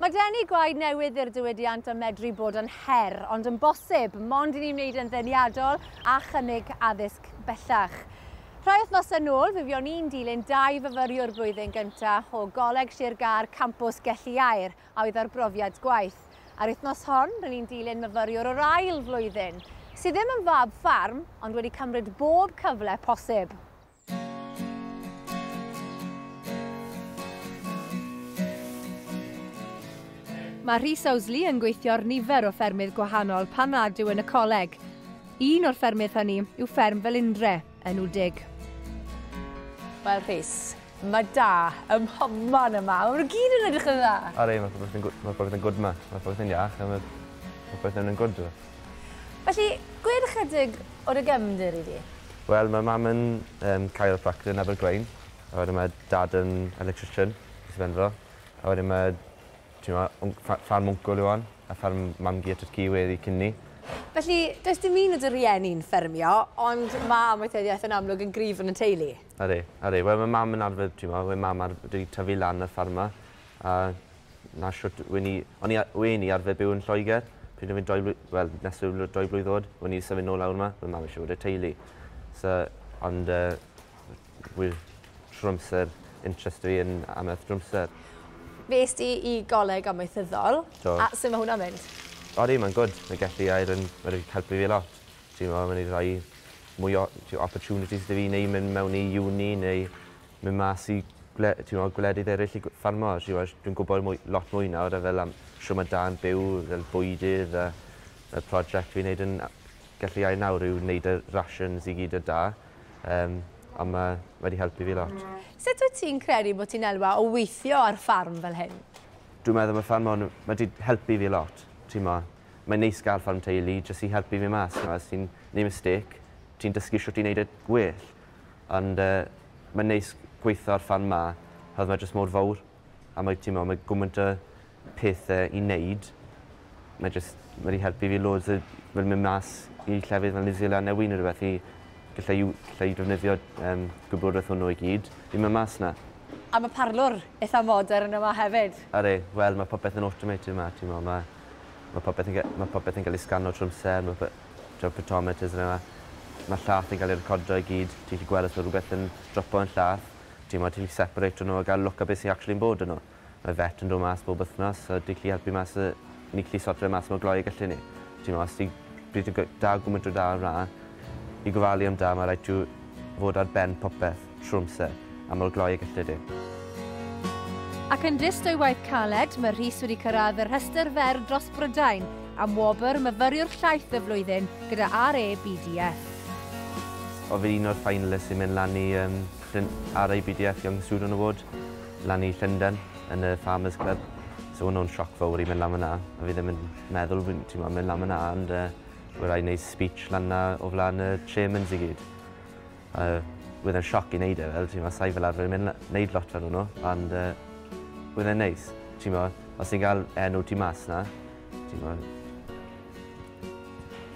Mae denu gwaed newydd i'r diwydiant yn medru bod yn her, ond yn bosib, mond i ni wneud e'n ddeniadol a chynnig addysg bellach. Rhai wythnosau nôl, fe fuon ni'n dilyn dau fyfyriwr blwyddyn gyntaf o Goleg Sir Gâr Campws Gelli Aur, a oedd ar brofiad gwaith. A'r wythnos hon, rŷn ni'n dilyn myfyriwr o'r ail flwyddyn, sydd ddim yn fab ffarm, ond wedi cymryd bob cyfle posib. Mae Rhys Owsley yn gweithio ar nifer o ffermydd gwahanol pan nad yw yn y coleg. Un o'r ffermydd hynny yw fferm Felindre, yn Wdig. Wel Rhys, mae da ym mhobman yma, maen nhw gyd yn edrych yn dda! Are, mae popeth yn good, mae popeth yn good yma, mae popeth yn iach, mae popeth yn yn good. Felly, gwed ychydig o dy gefndir i fi. Wel, mae mam yn um, chiropractor yn Abergwaun, a wedyn mae dad yn electrician, beth i fenfro. A wedyn mae, ti'n ma, ffarm wncwl yw on, a ffarm mam-gu at y ci wedi cyn ni. Felly, does dim un o dy rieni'n ffermio, ond mae amaethyddiaeth yn amlwg yn gryf yn y teulu. Ydy, ydy. Wel, mae mam yn arfer, ti'n ma, mae mam ar wedi tyfu lan y ffarm yma, a 'na shwt wen i o'n i a- wen i arfer byw yn Lloegr pryd o' fi'n dou fly- wel nes i fy dou blwydd o'd wen i symud nôl lawr 'ma ma' mam isie bod 'da teulu so ond yy w- wi trw'r amser interest fi yn amaeth drawmser. Fues di i goleg amaethyddol. Do. A su' ma' hwnna'n mynd? Odi mae'n gwd. Mae gallu air yn ma' 'di helpu fi lot. T'mo' ma' 'di roi mwy o t'wo' opportunities 'da fi neu myn' mewn i uni neu mynd mas i gwle- t'mod gwledydd eryll i gw- ffarmo t'mod dwi'n gwbod mwy lot mwy nawr a fel am shwd ma' da yn byw fel bwydydd a y project fi'n neud yn a- gallu ei nawr yw neud y rations i gyd y' da yym a ma' ma' 'di helpu fi lot. Sut wyt ti'n credu bo' ti'n elwa o weithio ar ffarm fel hyn? Dwi'n meddwl ma' ffarm hwn ma' 'di helpu fi lot t'mo' mae'n neis ga'l ffarm teulu jyst i helpu fi mas t'mo' os ti'n neu' mistake ti'n dysgu shwt i neud e gwell. Ond yy mae'n neis gweithio ar ffarm 'ma oherwydd mae jyst mor fowr a mae t'mo' mae gwmynt o pethe i neud. Mae jyst ma' 'di helpu fi loads yy fel myn' mas i llefydd fel New Zealand ne' wy ne' rwbeth i g'llai yw- g'llai defnyddio yym gwybodeth hwnnw i gyd i myn' mas 'na. A ma' parlwr itha modern yma hefyd. Ydi, wel ma' popeth yn automated 'ma t'mo' ma' ma' popeth yn ga- ma' popeth yn ga'l ei sgano trw'r amser ma' pe- t'wod photometers a petha. Ma' llath yn ga'l ei recordio i gyd. Ti gallu gwel' os ma' rwbeth yn dropo yn llath. T'mod ti gallu separeito n'w a ga'l look ar be' sy actually'n bod yno. Mae vet yn do' mas bob wthnos so di gallu helpu mas yy ni gallu sorto fe mas mor glou ag gallen ni. T'mo' os ti pryd ti'n gwe- dal gwmwnt o da ar wlân i gofalu am da ma' raid ti w- fod ar ben popeth. trwy amser, a mor gloi y gellid ef. Ac yn dyst o'i waith caled, mae Rhys wedi cyrraedd y rhestr fer dros Brydain am wobr Myfyriwr Llaeth y Flwyddyn gyda RABDF. Oedd yn un o'r finalists i mynd lan i um, RABDF Young Student Award, lan i Llundain, yn y Farmers Club. So hwnnw yn sioc fawr i mynd lan fyna, a fi ddim yn meddwl fi'n ti'n mynd lan fyna, ond uh, rhaid wneud speech lan na o flaen y chairmans i gyd. Yy wedd e'n sioc i neud e fel t'mo' sai fel arfer yn myn' la- neud lot fel wnw ond yy wedd e'n neis. T'mo' os ti'n ga'l enw ti mas 'na t'mo'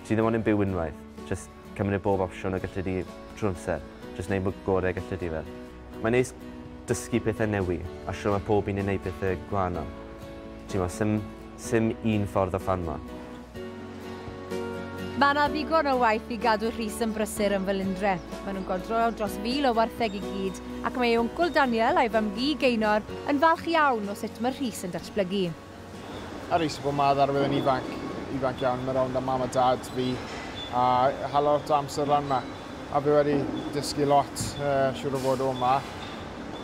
ti ddim ond yn byw unwaith jyst cymryd bob opsiwn y galle di trw'r amser jyst neud bo' gore' galle di fel. Mae'n neis dysgu pethau newi a shwt mae pob un yn neud pethe gwahanol. T'mo, sim, sim un ffordd o ffarmo. Mae yna ddigon o waith i gadw Rhys yn brysur yn fy Lindre. Mae nhw'n godro dros fil o wartheg i gyd, ac mae ei wncwl Daniel a'i fam-gu, Geinor, yn falch iawn o sut mae Rhys yn datblygu. Ar ei safon mae ddarwydd yn ifanc, ifanc iawn, mae rownd am mam a dad fi a hala lot o amser lan yma. A fi wedi dysgu lot, uh, siwr o fod o yma.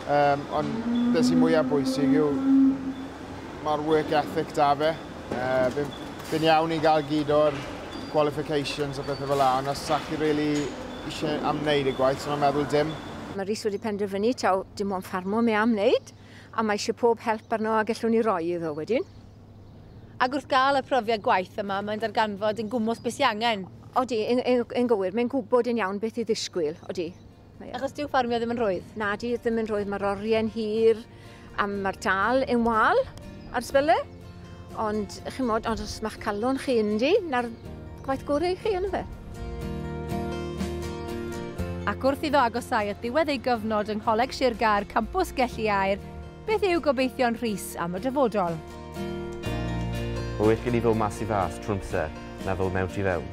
Um, ond beth sy'n mwyaf bwysig yw mae'r work ethic da fe. Uh, fi'n fi iawn i gael gyd o'r qualifications a bethau fel la, ond os sa'ch chi really eisiau am wneud y gwaith, so mae'n meddwl dim. Mae Rhys wedi penderfynu taw dim ond ffarmo mi am wneud. A mae eisiau pob help arno a gellwn ni roi iddo wedyn. Ac wrth gael y profiad gwaith yma, mae'n darganfod yn gwmwth beth sy'n angen. Odi, yn, yn, yn gywir, mae'n gwybod yn iawn beth i ddisgwyl, odi. Achos dyw ffarmio ddim yn rhwydd. Na, di ddim yn rhwydd, mae'r orie'n hir a mae'r tal yn wal ar sbele. Ond, chimod, ond os mae'ch calon chi ynddi, 'na'r gwaith gore i chi, on'd yfe? Ac wrth iddo agosau at ddiwedd ei gyfnod yng Ngholeg Sir Gâr, Campws Gelli Aur, beth yw gobeithion Rhys am y dyfodol? Mae well gen i ddod mas i fas trwy'r amser na ddod mewn tu fewn.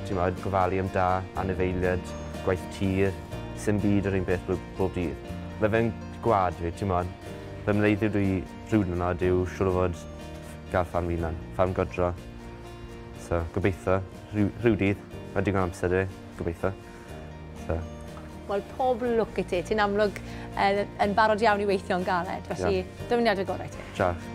Timod, gofalu am dad, anifeiliaid, gwaith tir, sim byd yr un peth bob dydd. Mae fe'n gwlad fi, timod. Fy mleudy dw i Rhywun yn od yw siŵr o fod gael ffarm fy hunan, ffarm godro. So, gobeithio, rhyw, rhyw dydd, mae digon amser i, gobeithio. So. Wel, pob lwc i ti. Ti'n amlwg yn, yn barod iawn i weithio yn galed, felly yeah. dyfyniad y gorau ti. Diolch.